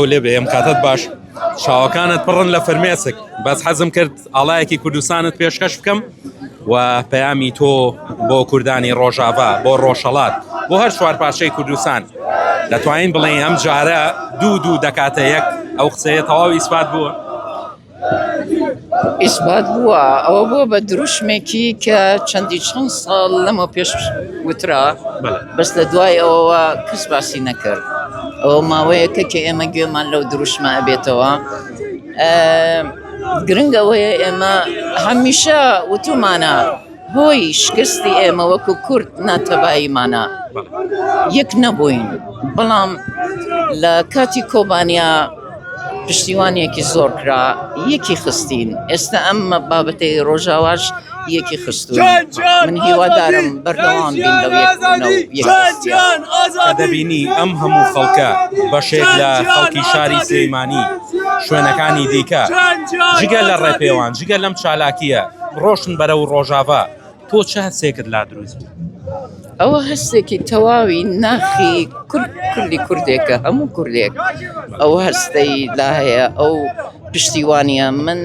لێ بێ ئەم کاتت باش چاوەکانت پڕن لە فرمێسک بەس حەزم کرد ئاڵایەکی کوردستانت پێشکەش بکەم و پەیامی تۆ بۆ کوردانی ڕۆژاڤا بۆ ڕۆژهڵات بۆ هەر چوار پارچەی کوردستان دەتوانین بڵێن ئەم جارە دوو دوو دەکاتە یەک ئەو قسەیە تەواو ئیسپات بووە ئیسبات بووە، ئەوە بووە بە دروشمێکی کە چەندی چەند ساڵ لەمەو پێش وترا بەس لە دوای ئەوەوە کەس باسی نەکرد ئەوە ماوەیەکە کە ئێمە گوێمان لەو دروشمە بێتەوە گرنگەوەیە ئێمە هەمیشە وتومانە. هۆی شکستی ئێمە وەکو کورد ناتەباییمانە یەک نەبووین بەڵام لە کاتی کۆبانیا پشتیوانێکی زۆر کرا یەکی خستین ئێستا ئەممە بابەتی ڕۆژاواش یەکی خستو من هیوادارم بەردەوام دەبینی ئەم هەموو خەڵکە بەشێک لە خەڵکی شاری سلەیمانی شوێنەکانی دیکە جگە لە ڕێپێوان جگە لەم چالاکیە ڕۆشن بەرە و ڕۆژاڤا تۆ چ هەستێکت لا دروست بوو؟ ئەوە هەستێکی تەواوی ناخی کورد کوردی کوردێکە هەموو کوردێک ئەو هەستەی لا هەیە ئەو پشتیوانە من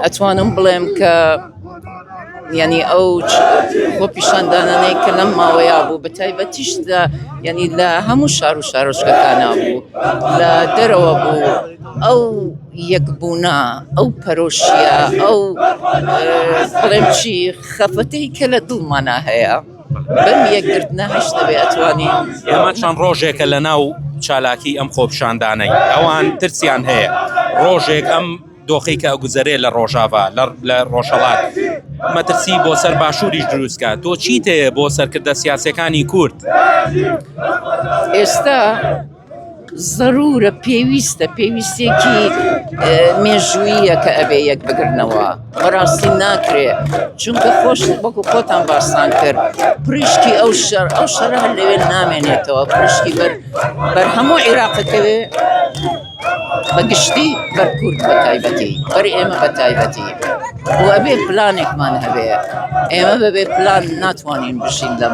ئەتوانم بڵێم کە ینی ئەو بۆ پیشاندانانەی کە لەم ماوەیا بوو بە تایبەتیشدا ینی لە هەموو شار و شارۆچکەکانە بوو لە دەرەوە بوو. ئەو یەکبوونە، ئەو پەرۆشییە، ئەو بڵێم چی خەفەتەی کە لە دڵمانا هەیە بەم یەکگرتنە هەشت دەبێ ئەتوانین ئێمە چەند ڕۆژێکە لە ناو چالاکی ئەم خۆپشاندانەی ئەوان ترسیان هەیە ڕۆژێک ئەم دۆخی کە گوزەرێ لە ڕۆژاڤا لە ڕۆژەڵات مەترسی بۆ سەر باشووریش دروستکە تۆ چیت هەیە بۆ سەرکردە سیاسەکانی کورد ئێستا زەرورە پێویستە پێویستێکی مێژووییە کە ئەبێ یەک بگرنەوە بەڕاستی ناکرێ چونکە خۆش وەکو خۆتان باسان کرد پرشکی ئەو شەر ئەو شەر هەر لەوێ نامێنێتەوە پرشکی بەر بەر هەموو عێراقەکەوێ بەگشتی بەرکورد بە تایبەتی بەر ئێمە بە تایبەتی بۆ ئەبێ پلانێکمان هەبێ ئێمە بەبێ پلان ناتوانین بشین دەم.